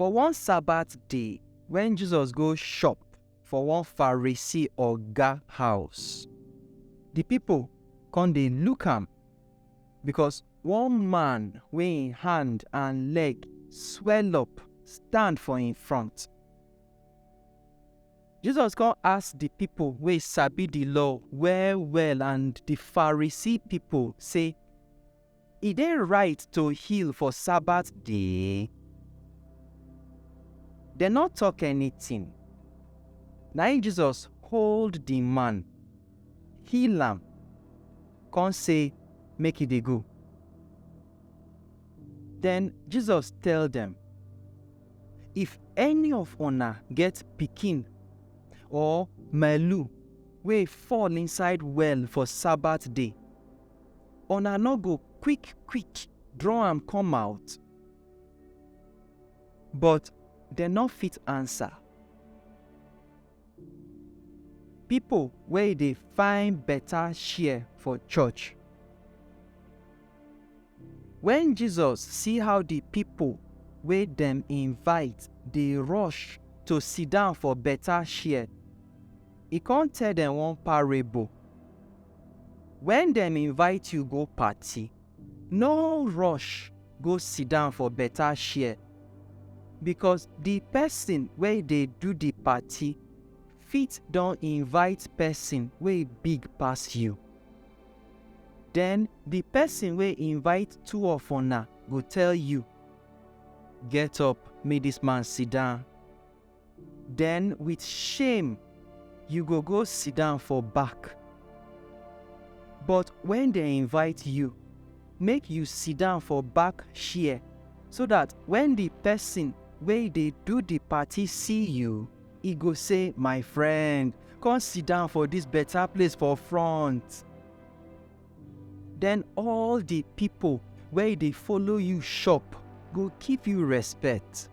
For one Sabbath day, when Jesus go shop for one Pharisee oga house, the people come dey look am because one man wey im hand and leg swell up stand for im front. Jesus come ask the people wey sabi the law well well and the Pharisee people say, E dey right to heal for Sabbath day? Dem no talk anything. Na im Jesus hold the man, heal am, come say make e dey go. Then Jesus tell dem, If any of una get pikin or malu wey fall inside well for Sabbath day, Una no go quick quick draw am come out? But dem no fit answer. Pipo wey dey find beta share for church. Wen Jesus see how di pipo wey dem invite dey rush to siddon for beta share, E kon tell dem one parable, Wen dem invite yu go party, no rush go sidan for beta chair, bikos di pesin wey dey do di party fit don invite pesin wey big pass yu. Den di pesin wey invite two of una go tell yu, Get up, mek dis man sidan. Den with shame you go go sidan for back. But wen dem invite you, make you sidan for back share so dat wen di pesin wey dey do di party see you, e go say, My friend, come sidan for dis beta place for front. Den all di pipo wey dey follow you shop go give you respect.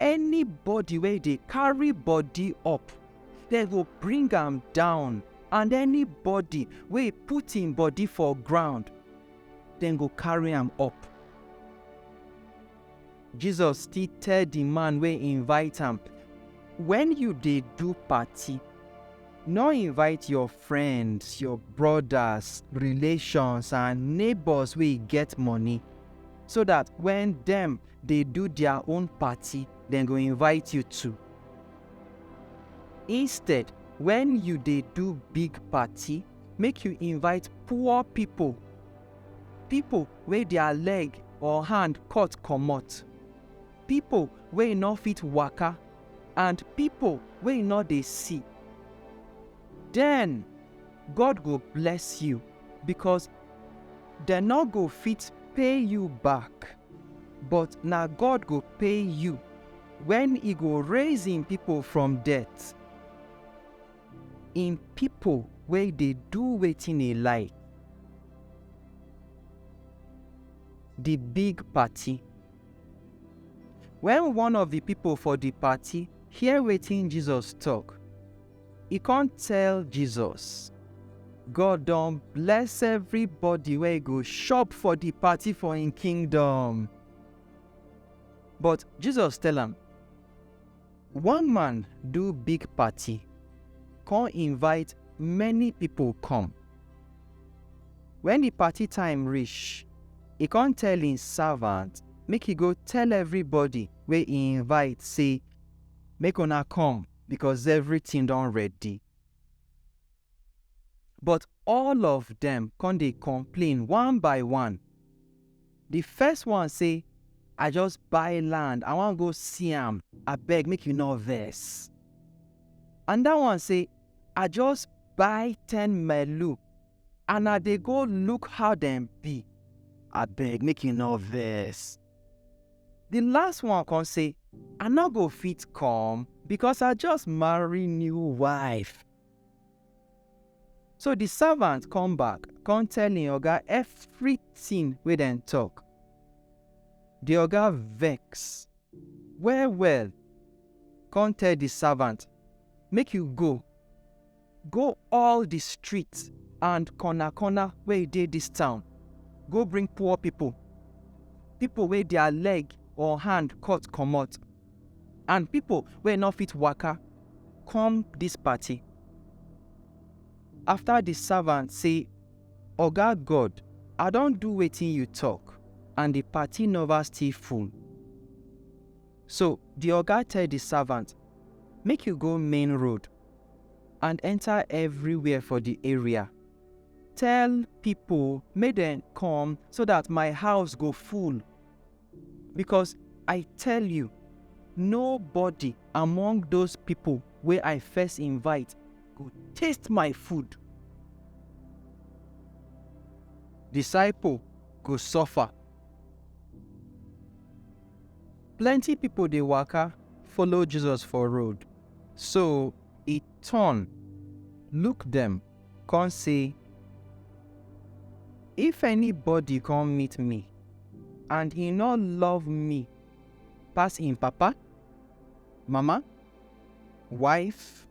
anybody wey dey carry body up dem go bring am down and anybody wey put im body for ground dem go carry am up jesus still tell di man wey invite am when you dey do party no invite your friends your brothers relations and neighbors wey get money so that when dem dey do their own party, dem go invite you too. Instead, when you dey do big party, make you invite poor people, people wey their leg or hand cut comot, people wey no fit waka and people wey no dey see. Then, God go bless you because dem no go fit pay you back. but na God go pay you when he go raise him people from death. Him people wey dey do wetin he like. The big party. When one of the people for the party hear wetin Jesus talk, E come tell Jesus, God don bless everybody wey go chop for the party for im kingdom. But Jesus tell am, One man do big party, come invite many people come. When the party time reach, e come tell im servant make e go tell everybody wey e invite say, Make una come, because everything don ready. But all of them come dey complain one by one. The first one say, I just buy land, I wan go see am, abeg make you no vex. Another one say, I just buy ten melu and I dey go look how dem be, abeg make you no vex. The last one come say, I no go fit come because I just marry new wife. So the servant come back, come tell him oga everything wey dem talk. The oga vex well well, come tell the servant, make you go, Go all di street and corner-corner wey e dey dis town, go bring poor pipo, pipo wey dia leg or hand cut comot, and pipo wey no fit waka, come dis party. Afta di savant sey, Oga God, I don do wetin yu tok, and di party nova still full. So di oga tell di savant, Make yu go main road and enter everywhere for the area. Tell people make dem come so that my house go full. Because I tell you, nobody among those people wey I first invite go taste my food. Disciple go suffer. Plenty pipo dey waka follow Jesus for road, so e turn look dem kon sey, If anybody kom meet mi and e nor love mi pass en papa, mama, wife,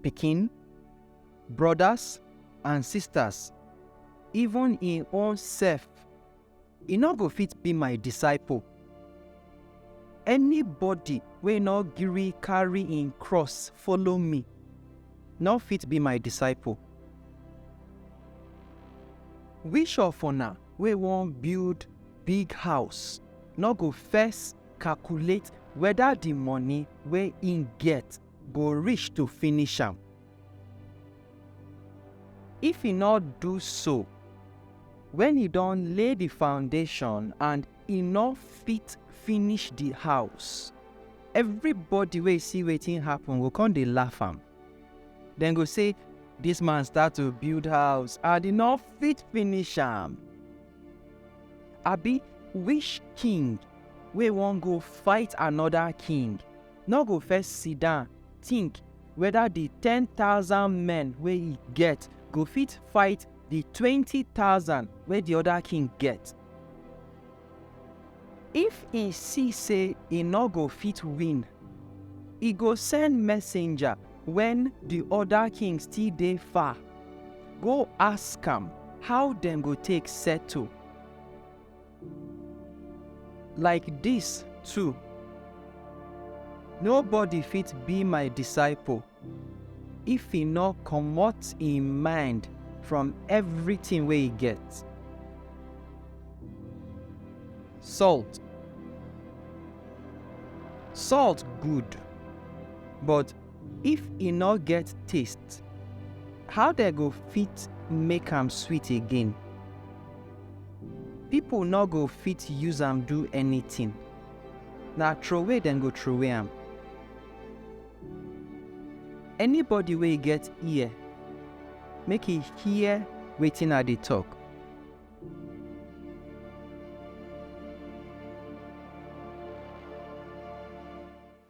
pikin, brodas and sistas, even en own sef, e no go fit be my disciple. Anybody wey no gree carry im cross follow me no fit be my disciple. Which of una wey wan build big house no go first calculate whether the money wey im get go reach to finish am? If e nor du so, wen e don lay di foundashon and e nor fit finish di house, evribody wey si wetin happen go kon dey laff am. Dem go sey, Dis man start to build house and e nor fit finish am. Abi wish king wey won go fight anoda king, nor go first sidon tink weda di ten thousand men wey e get go fit fight di twenty thousand wey di oda king get? If e si sey e nor go fit win, e go send messenger wen di oda king still dey far go ask am how dem go take settle. Like dis too, nobody fit be my disciple if e nor comot im mind from everytin wey e get. Salt Salt good but. If e no get taste, how dem go fit make am sweet again? People no go fit use am do anything, na throway dem go throway am. Anybody wey get ear, make e hear wetin I dey talk.